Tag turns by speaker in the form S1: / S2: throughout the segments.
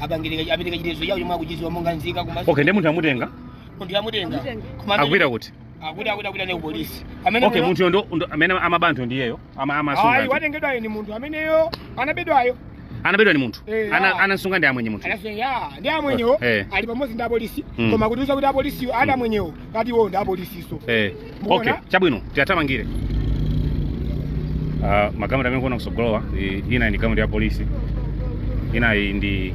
S1: apangirika apitike chitezo chawo chomwe akuchiziwa monga nzika koma okay ndi munthu amutenga munthu amutenga koma amene- akupita kuti akuti akuti akuti ali kupolisi amene okay muno- munthu ndo ndo- amene amaba anthu ndiyeyo ama ayi amasunga watengedwayo ni munthu ameneyo anabedwayo anabedwa ni munthu Eh, ana ah. anamsunga ndi amwenye munthu anasema ya ndi amwenyewo Eh. ali pamodzi ndi apolisi Mm. koma kutiuza kuti apolisiyo ana amwenyewo atiwo ndi apolisiso eh okay chabwino tiwathamangire uh, magalimoto amene mukuona kusogolowa i- inayi ndi galimoto ya polisi inayi ndi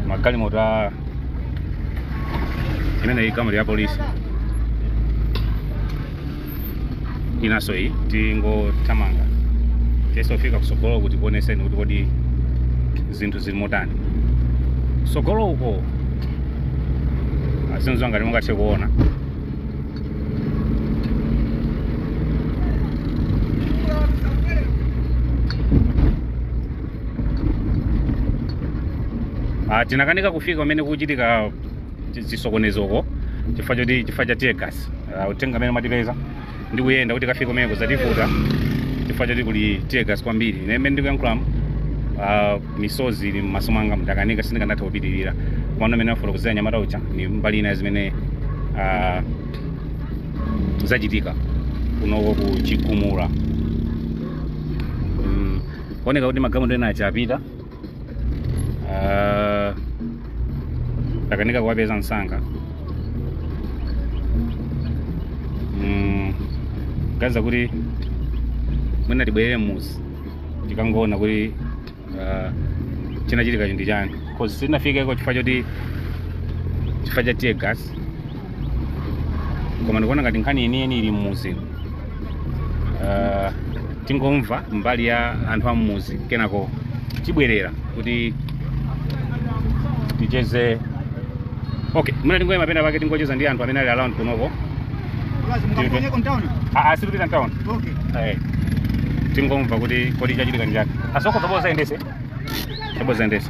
S1: magalimoto a imeneyi galimoto ya polisi inanso iyi tingothamanga tizifika kusogolo kuti tikuoneseni kuti kodi zinthu zili motani sogolo uko azizwa ngati mungathe kuona Ah, tinakanika kufika kumene kukuchitika chisokonezoko chifukwa choti chifukwa cha tear gas Ah, uthenga amene matipeza ndi kuyenda kuti tikafike kumeneko zativuta chifukwa choti kuli tear gas kwambiri ine mmene ndikuyankhulamu ah, misozi ili m'maso mwanga ndakanika sindikanatha kupitirira komano mmene amafuna kuuzira mnyamata uja ni mbali ina zimene ah, zachitika kunoko ku Chigumula Mm, kuoneka kuti magalimoto ena achapita Ah, takanika kuwapeza msanga Mm, kaza kuti mwina tibwerere mmuzi tikangoona kuti ah, chinachitika ndi chani cause sitinafikeko chifukwa choti chifukwa cha tear gas koma ndikuona ngati nkhani yeniyeni ili mmuzi uh, tingomva mbali ya anthu a mmuzi kenako tibwerera kuti ticheze okay mwina tingoyima pena pake tingocheza ndi anthu amene ali around kunoko Basi mkaponye kontaona. Ah, ah, sitikupita mtown Okay. Eh, tingomva kuti kodi chachitika ndi chani asoko toboza endese toboza endese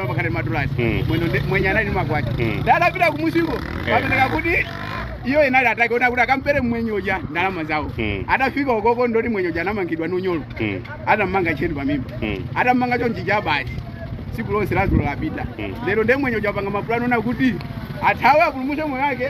S1: pakhale madulasi Mm. mwino ndi- mwenye anali ndi makwacha Mm. ndanapita kumusiko pameneka kuti iyo inali atake ona kuti akampele mmwenye uja ndalama zawo Mm. atafika ukoko ndoti mwenye uja anamangidwa ndi unyolo Mm. atammanga tcheni pamimba Mm. atammanga chonchi chabati tsiku lonse lazulo lapita Mm. lero ndemwenye uja apanga mapulani ona kuti athawe apulumuse moyo wake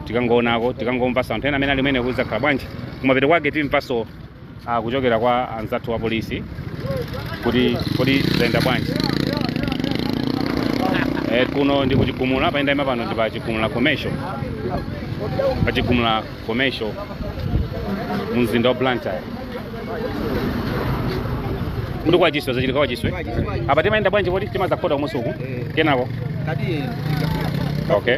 S1: tikangoonako tikangomvanso anthu ena amene ali kumeneko zakhala bwanji kumapeto kwake timvanso uh, kuchokera kwa anzathu wa polisi kuti kodi zayenda bwanji eh, kuno ndi kuchigumula pa yenda ima pano ndi pa chigumula commercial pa chigumula commercial mu mzinda wa blantyre kuti kwa chiswe zachitika kwa chiswe apa timayenda bwanji kodi timadzakhota kumunsi uku kenako okay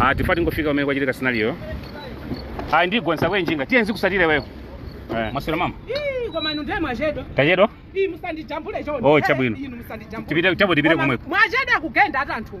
S1: Ah, tifuna tingofika kumene kwachitika scenario-yo ayi ndingotsika panjinga tiye ndikutsatire wewe Eh, maswera mama Ii, koma inu ndiye mwachedwa tachedwa Ii, musandijambule chonde Oh, chabwino. Inu musandijambule. Tipite- chabwino tipite Koma komweko. mwachedwa kugenda ati anthu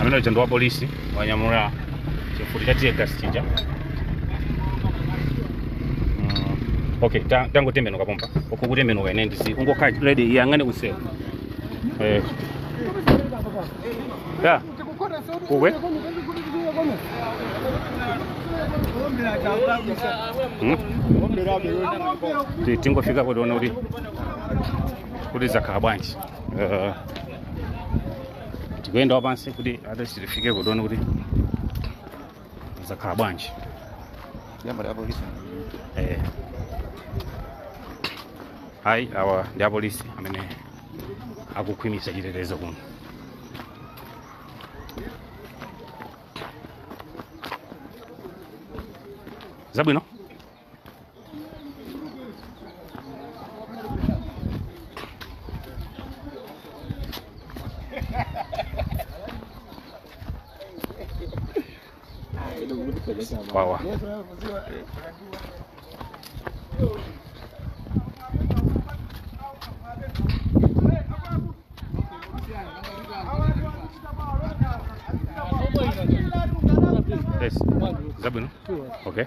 S1: amene uja ndi wa polisi wanyamula chifuti cha tear gas chija Mm, okay ta- tangotembenuka pompa ukutembenuka ine ndisi ungokhala ready uyang'ane kumsewu eh ya kuwe Mm. Ti- tingofika kukaona kuti kuti zakhala bwanji Eh, tikuyenda wapansi kuti at least tifike ku town kuti zakhala bwanji Jambo la polisi. eh. ayi awa ndi apolisi amene akukhwimitsa chitetezo kuno zabwino wawa Yes. Zabwino. Okay.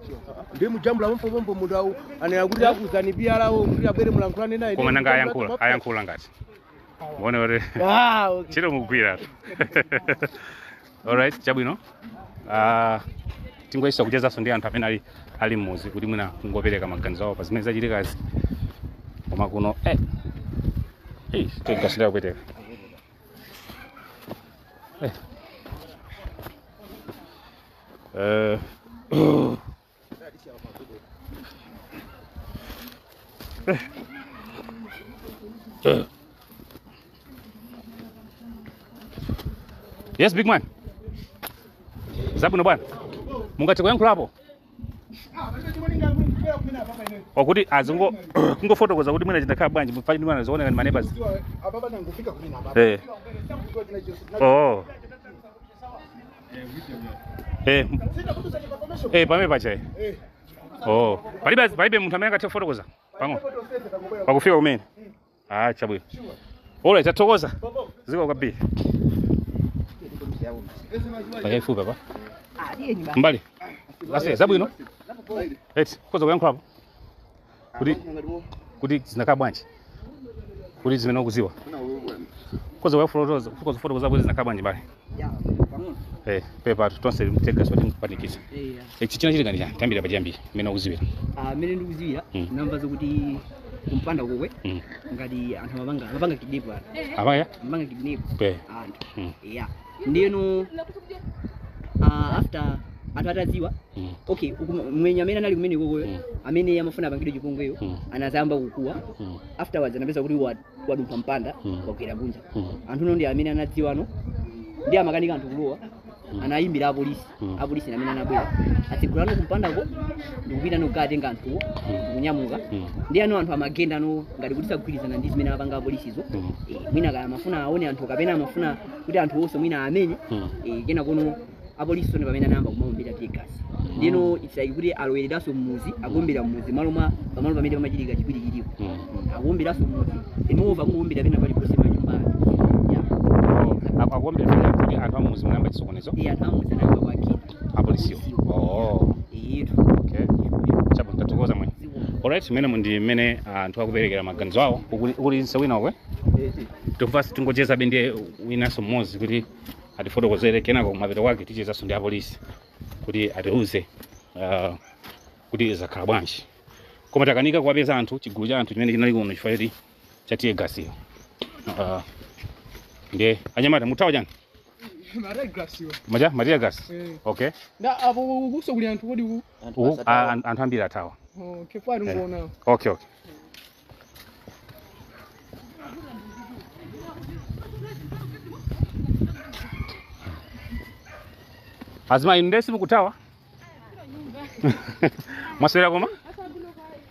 S1: ndimujambula pompopompo munthu awu anena kuti auza PRO wawo kuti abwere mulankhulane naye koma nanga ayankhula ayankhula ngati muone kuti Ah, okay. ntchito mugwira alright chabwino Ah, tingoyesa kuchezanso ndi anthu amene ali ali mmudzi kuti mwina kungopereka maganizo awo pa zimene zachitikazi koma kuno eh, eh, tear gas ikupweteka Eh, Eh. Yes, big man. Zabwino bwana. Mungathe kuyankhulapo? Oti azingo kungofotokoza kuti mwina zinakhala bwanji mufanye ndi mwana zooneka ndi maneighbors. Eh. Oh. Eh, m- eh, pamene pachayi oh palibe palibe munthu amene angathe kufotokoza pang'ono pakufika kumene ah chabwino ola tathokoza zikomo kwambiri pafupi apa mbali ase zabwino eti mukhoza kuyankhulapo kuti kuti zinakhala bwanji kuti zimene ukuziwa koza wafotokoza koza fotokoza kuti zinakhala bwanji bale eh pepa tonse mteka sote mpanikiza eya eh chimene chinachitika ndi chani tayambira pachiyambi mmene ukuziwira mmene ndikuziwira Mm. namba zokuti kumpanda kokwe Mm. ngati anthu amapanga amapanga kidnap anthu amabera amapanga kidnap anthu Mm. eya ndiyeno ah, after anthu atadziwa Mm. okay uku- mwenyeyo amene anali kumenekoko uyo Mm. amene amafuna apangidwe chipongweyo Mm. anazayamba kukuwa Mm. afterwards anapeza kuti wa- wadumpha mpanda Mm. wagwera kunja Mm. anthu ano ndi amene anadziwano ndi amakanika anthu kulowa anayimbira apolisi Mm. apolisi ndi amene anabwera atatsegula ano kumpandako ndikupita ano kukatenga anthuwo Mm. ndikunyamuka Mm. ndi ano anthu amagenda ano ngati kuti sagwirizana ndi zimene apanga apolisizo Mm. Eh, mwina kaya amafuna aone anthu kapena amafuna kuti anthu onse mwina amene Mm. eh, kena kuno apolisi ndi pamene anayamba kumaombera tiye gasi ndino mpaka kuti alowereranso mmuzi akuombera mmuzi malo mwa pamalo pamene pamachitika chipwirikitipo Mm. akuwomberanso mmudzi inuyo akuwombera pena paliponse mmanyumba ya Oh, apa akuombera pena kuti anthu ammuzi munayamba chisokonezo iye anthu ammuzi anayamba kukwiyira apolisiwo oh eyetu okay chabwino tathokoza mwe alright umenewu ndi mmene anthu akuperekera maganizo awo kulinso wina uku tofasi tingochezabe ndiye winanso mmodzi kuti atifotokozere kenako kumapeto kwake tichezanso ndi apolisi kuti atiuze ah, kuti zakhala bwanji koma takanika kuwapeza anthu chigulu cha anthu chimene chinali kuno chifukwa choti cha tiye gasiyo Ah, ndiye anyamata muthawa chani paja ma tiye gasi okay nda apo ukunso kuli anthu kodi ku Uku, a- an- anthu ambiri athawa kufera komweko okay okay azimayi inu nanunso mukuthawa Mwaswera koma?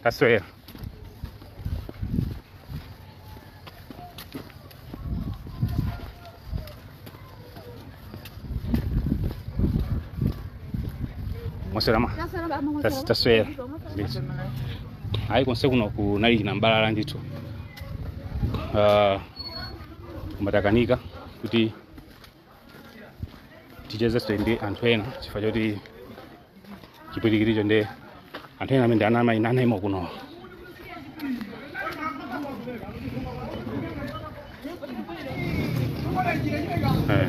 S1: Taswera. Mwaswera mayi? Tas- Taswera. Ndithu. Hayi konse kuno kunali chinamtindi ndithu. Ah, koma takanika kuti tichezenso ndi anthu ena chifukwa choti chipwirikiticho ndi anthu ena amene ana amayi anaima kuno Eh.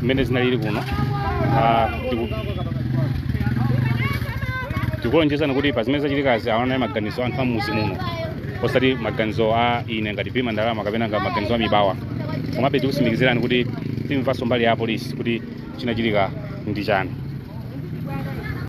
S1: zimene zinalili kuno Ah, tiku- tikulonjezani kuti pa zimene zachitikazi awo anali maganizo a anthu a m'muzi muno osati maganizo a ine ngati pima ndalama kapena ngati maganizo a mibawa komabe tikusimikizirani kuti timvanso mbali ya apolisi kuti chinachitika ndi chani